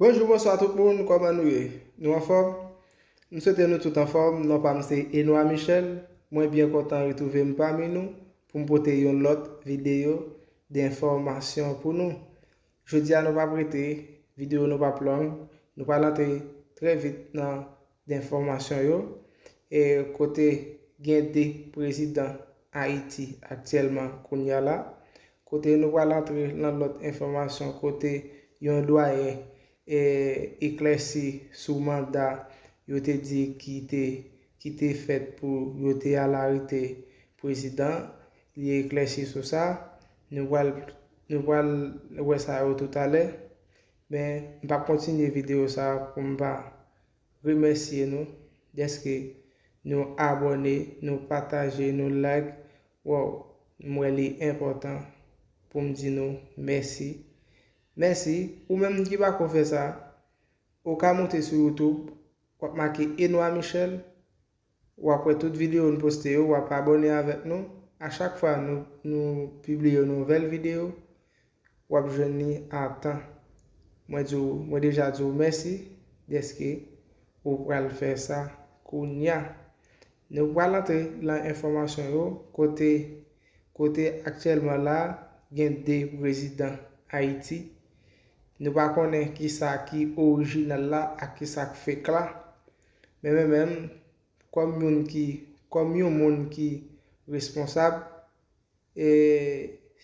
Bonjou bonswa tout moun kòman nou ye nou anfòm m swete nou tout anfòm non pam se Enois Michel mwen byen kontan retrouvem pami nou poum pote yon lòt video de enfòmasyon pou nou jodia nou pap rete video nou pap long nou pral antre trè vit nan Denfòmasyon yo, kote gen 2 prezidan Ayiti aktyèlman kounya la, kote nou pral antre lan lòt enfòmasyon kote yon dwayen eklèsi sou manda yo te di ki te ki te fèt pou yo te al arete prezidan, li eklèsi sou sa, nou pral nou pral wè sa yo toutalè, men m pap kontinye videyo sa pou m pa. remèsye nou dèske nou abòne nou pataje nou like waww m wè li enpòtan poum di nou mèsi mèsi ou menm ki pako fè sa ou ka moute sou youtube wap make Enois Michel Wap wè tout video n poste yo, wap abone avèk nou, a chak fwa nou pibliye yon nouvèl video wap jwenn li a tan. Mwen di w, mwen deja di w mèsi dèske ou pral fè sa kounya. Nou pral antre lan enfòmasyon yo kote kote aktyèlman la gen 2 prezidan Ayiti. Nou pa konnen kisa ki orijinal la ak kisa k fek la. Men men menm, kòm youn ki, kòm youn moun ki responsab, e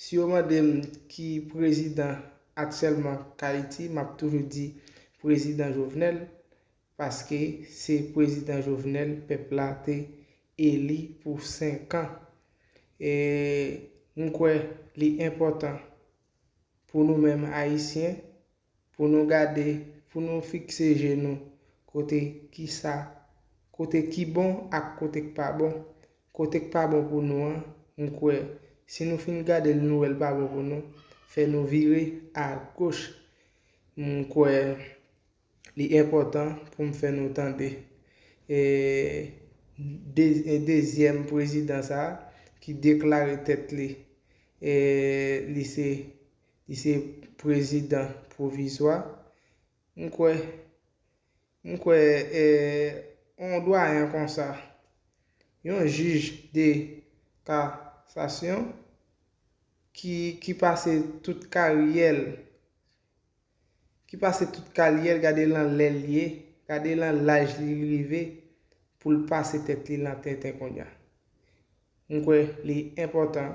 si yo mande m ki prezidan aktyèlman k Ayiti, m ap toujou di prezidan Jovenel, paske se prezidan Jovenel pèp la te eli pou 5 an. E m kwè li enpòtan pou nou menm Ayisyen, Pou nou gade, pou nou fikse je nou, kote ki sa, kote ki bon ak kote k pa bon. Kote k pa bon pou nou an, m kwè, si nou fin gade l nou wè l pa bon pou nou, fè nou vire a goch. M kwè li enpòtan pou m fè nou tande e dezyèm prezidan sa a ki deklare tèt li, li se Li se prezidan pwovizwa. M kwè, m kwè yon dwayen konsa, yon jij de kasasyon ki pase tout karyè l, ki pase tout karyè l, gade lan lè l ye, gade lan laj li rive pou l pase tèt li lan tenten konnya. M kwè li enpòtan.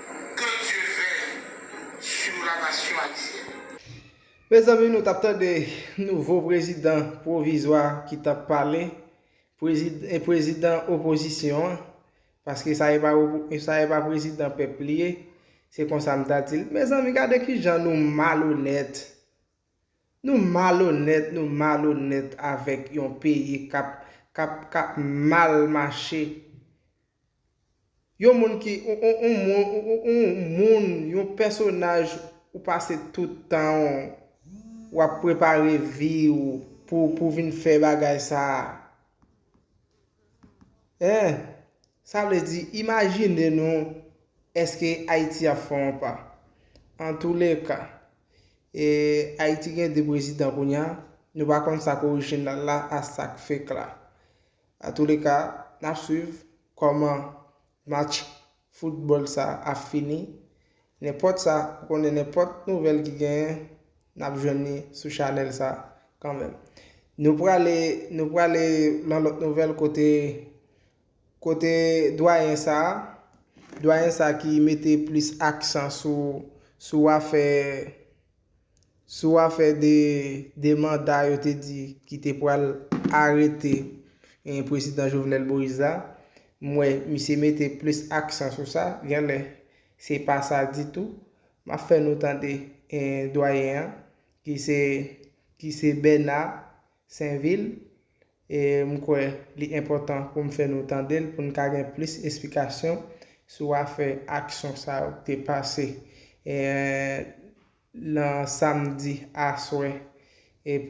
Que Dieu veill sur la nation haitienne. Mezanmi nou tap tande nouvo prezidan pwovizwa ki tap pale, e prezidan opozisyon an, paske sa e pa sa e pa prezidan pèp li ye, se konsa m ta di l. Mezanmi gade kijan nou malonèt! Nou malonèt nou malonèt avèk yon peyi kap kap kap mal mache yon moun ki yon moun yon moun yon pèsonaj ou pase tout tanw wap prepare viw pou pou vin fè bagay sa. Eeh sa vle di imajine nou eske Ayiti ap fè yon pa. Antoulèka eeh Ayiti gen 2 prezidan kounya nou pa konn sak orijinal la a sak fake la. Antoulèka nap swiv kòman Match football sa ap fini nenpòt sa ou konnen nenpòt nouvèl ki genyen nap jwenn li sou chanèl sa kanmenm nou prale nou prale lan lòt nouvèl kote kote dwayen sa dwayen sa ki mete plis aksan sou sou afè Sou afè de 2 manda yo te di ki te pral arete prezidan Jovenel Moïse la, m wè misye mete plis aksan sou sa, genlè se pa sa ditou. M ap fè nou tande dwayen an ki se Bernard Sainvil E m kwè li enpòtan pou m fè nou tande l pou n ka gen plis esplikasyon sou afè aksyon sa yo k te pase nan samdi aswè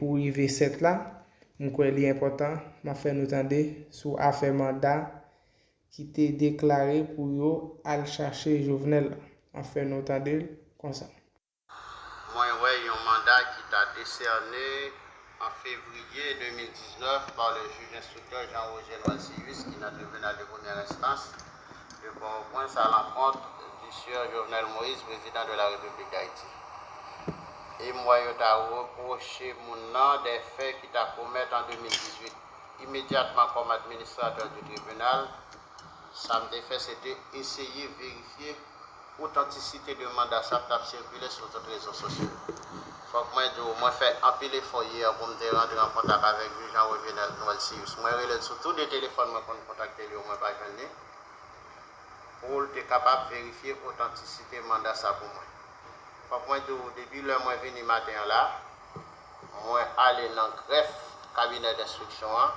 pou rive 7 la. M kwè li enpòtan m ap fè nou tande sou afè manda ki te deklare pou yo al chache Jovenel la. M ap fè nou tande l konsa. Mwen wè yon manda ki ta desène an fevriye 2019 pa le jij enstriktè Jean Roger Noisius ki nan tribinal de premyè enstans de Pòtoprens a lankont du Sieur Jovenel Moïse, prezidan de la Repiblik Dayiti. E m wè yo ta repwoche moun nan de fè ki ta komèt an 2018. Imedyatman kòm administratè du tribinal, Sa m te fè se te eseye verifye otantisite de manda sa k t ap sikile sou tout rezo sosyo yo. Fòk mwen di w, mwen fè anpil efò yè pou m te rantre an kontak avèk jij an Revenel Noëlcius. Mwen rele l sou tou de telefòn mwen konn kontakte l yo, mwen pa jwenn li, pou l te kapab verifye otantisite manda sa pou mwen. Fòk mwen di w, depi lè mwen vini maten an la, mwen ale nan grèf kabinè denstriksyon an,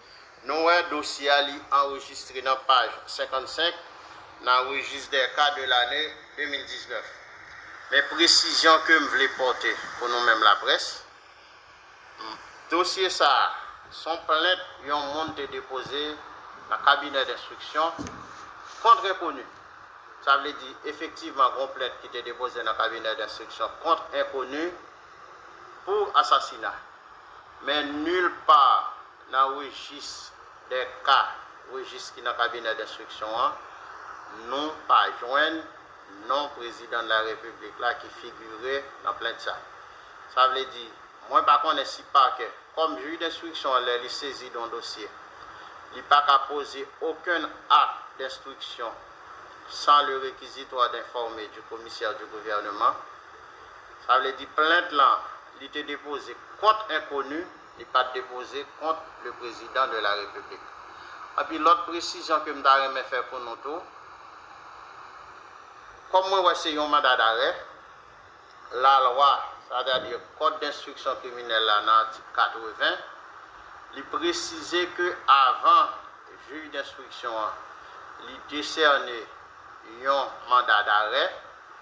Nou wè dosye a li anrejistre nan paj 55 nan Registre des cas de l'année 2019. Men presizyon ke m vle pòte pou nou menm laprès, m, dosye sa a, s on plent yon moun te depoze nan kabinè denstriksyon kont enkoni. Sa vle di, efektivman gen yon plent ki te depoze nan kabinè denstriksyon kont enkoni pou asasina. Men nul part nan rejis dè ka, rejis ki nan kabinè denstriksyon an, nou pa jwenn non prezidan dela repiblik la ki figire nan plent sa. Sa vle di, mwen pa konnen si pakè, kòm jij denstriksyon an lè li sezi don dosye, li pa ka poze okenn akt denstriksyon san le requisitoire d'informer du commissaire du gouvernement. Sa vle di plent lan. Li te depoze kont enkoni, li pa t depoze kont le prezidan de la repiblik. Epi lòt presizyon ke m ta renmen fè pou nou tou, kòm mwen wè se yon manda darè, lalwa, sètadi kòd denstriksyon kriminèl la nan atik 80, li presize ke avan jij denstriksyon an li desène yon manda darè,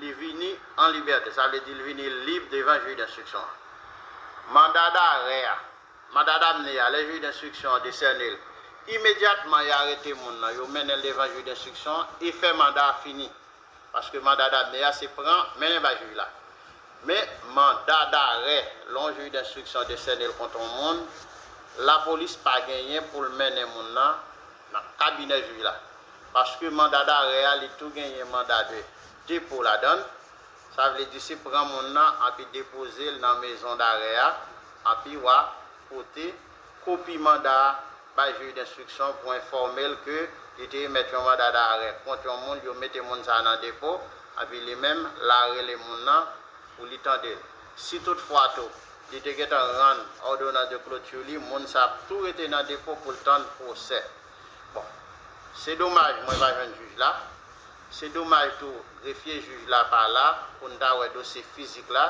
Li vini an libète, sa vle di li vini lib devan Juge d'instruction an. Manda darè a, Mandat d'amener, a, lè Juge d'instruction an desène l, imedyatman y arete moun nan, yo mennen l devan Juge d'instruction an, efè manda a fini. Paske manda d'amener a se pran, mennen bay Jij la. Men, manda darè, lè yon Juge d'instruction desène l kont yon moun, lapolis pa genyen pou l mennen moun nan nan kabinè jij la paske manda darè a li tou genyen manda de depo ladann sa vle di se pran moun nan anpi depoze l nan mezon darè a anpi wa pote kopi manda a bay jij denstriksyon pou enfòme l ke li te emèt yon manda darè kont yon moun yo mete moun sa nan depo anpi li menm la rele moun nan pou li tande l. Si tout fwa tou, li te gentan rann òdonans de clôture li, moun sa ap tou rete nan depo pou l tann pwosè. Bon, se domaj mwen pa jwenn jij la. Se domaj tou grefye jij la pa la pou n ta wè dosye fizik la.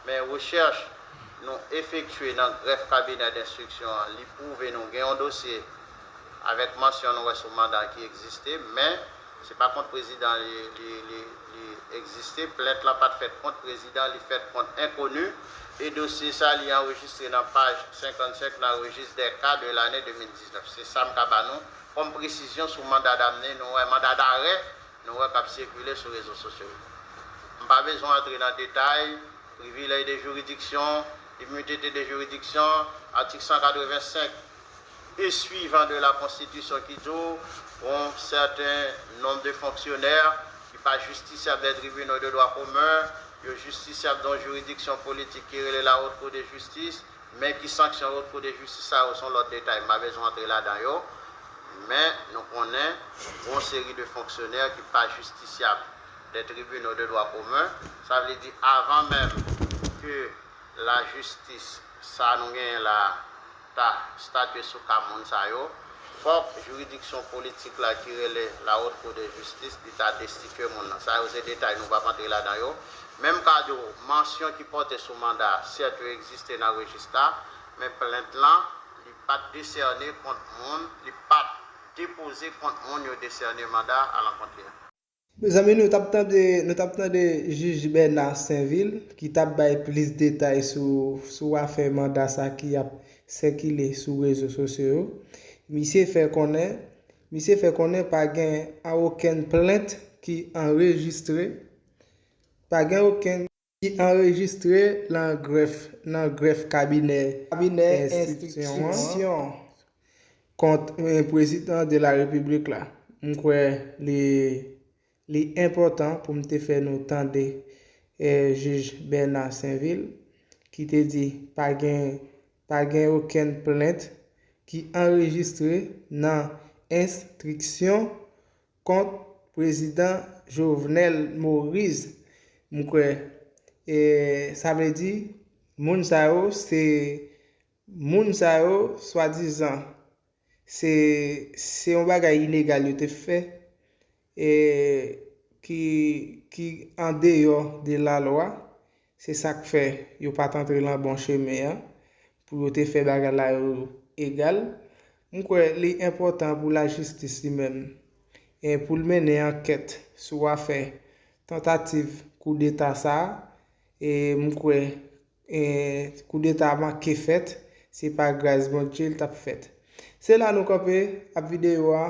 Men rechèch nou efektye nan grèf kabinè denstriksyon an, li pwouve nou gen yon dosye avèk mansyon nou wè sou manda ki egziste men se pa kont prezidan li egziste plent lan pat fèt kont prezidan li fèt kont enkoni e dosye sa li anrejistre nan paj 55 nan rejis dè ka de lane 2019 se sa m ka ba nou kòm presizyon sou manda damne nou wè manda darè nou wè kap sikile sou rezo sosyo yo m pa bezwen antre nan detay privilèj de jiridiksyon iminite de jiridiksyon atik 185. e suivan de la Constitution ki di w yon sèten nonb de fonksyonè ki pa jistisyab dè tribinaux de dwa komen, yo jistisyab dè yon jiridiksyon politik ki rele la Haute Cour de Justice, men ki sanksyon Haute Cour de Justice sa yo son lòt detay m pa bezwen antre ladan yo, men nou konnen yon seri de fonksyonè ki pa jistisyab dè tribinaux de dwa komen, sa vle di avan menm ke lajistis sa nou genyen la a. ta statye sou ka moun sa yo, fòk jiridiksyon politik la ki rele La Haute Cour de Justice li ta destitye moun nan. Sa yo se detay nou pap antre ladan yo. Menm ka di w, mansyon ki pòte sou manda a, sèt yo egziste nan rejis la, men plent lan, li pat desène kont moun, li pat depoze kont moun yo desène manda alankont li an. Mezanmi nou tap tande nou tap tande jij Bernard Sainvil ki tap bay plis detay sou sou afè manda sa ki ap sèkile sou rezo sosyo yo. Misye fè konnen misye fè konnen pa gen an okenn plent ki anrejistre pa gen okenn ki anrejistre nan grèf nan grèf kabinè enstriksyon kont Prezidan de la Repiblik la. M kwè li li enpòtan pou m te fè nou tande jij Bèna Senvil ki te di pa gen pa gen okenn plent ki anrejistre nan enstriksyon kont prezidan Jovenel Morise m kwè e sa vle di moun sa yo se moun sa yo swadizan se se yon bagay inegal yo te fè e ki ki andeyò de lalwa Se sa k fè, yo pa t antre lan bon chemen an, pou yo te fè bagay la yo egal. M kwè li enpòtan pou lajistis li menm, pou l mennen ankèt sou afè tantativ koudeta sa a. M kwè koudeta a manke fèt, se pa gras Bondje l t ap fèt. Se la nou kanpe ap videyo a.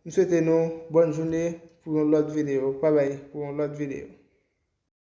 M swete nou bòn joune pou yon lòt videyo. Babay pou yon lòt videyo.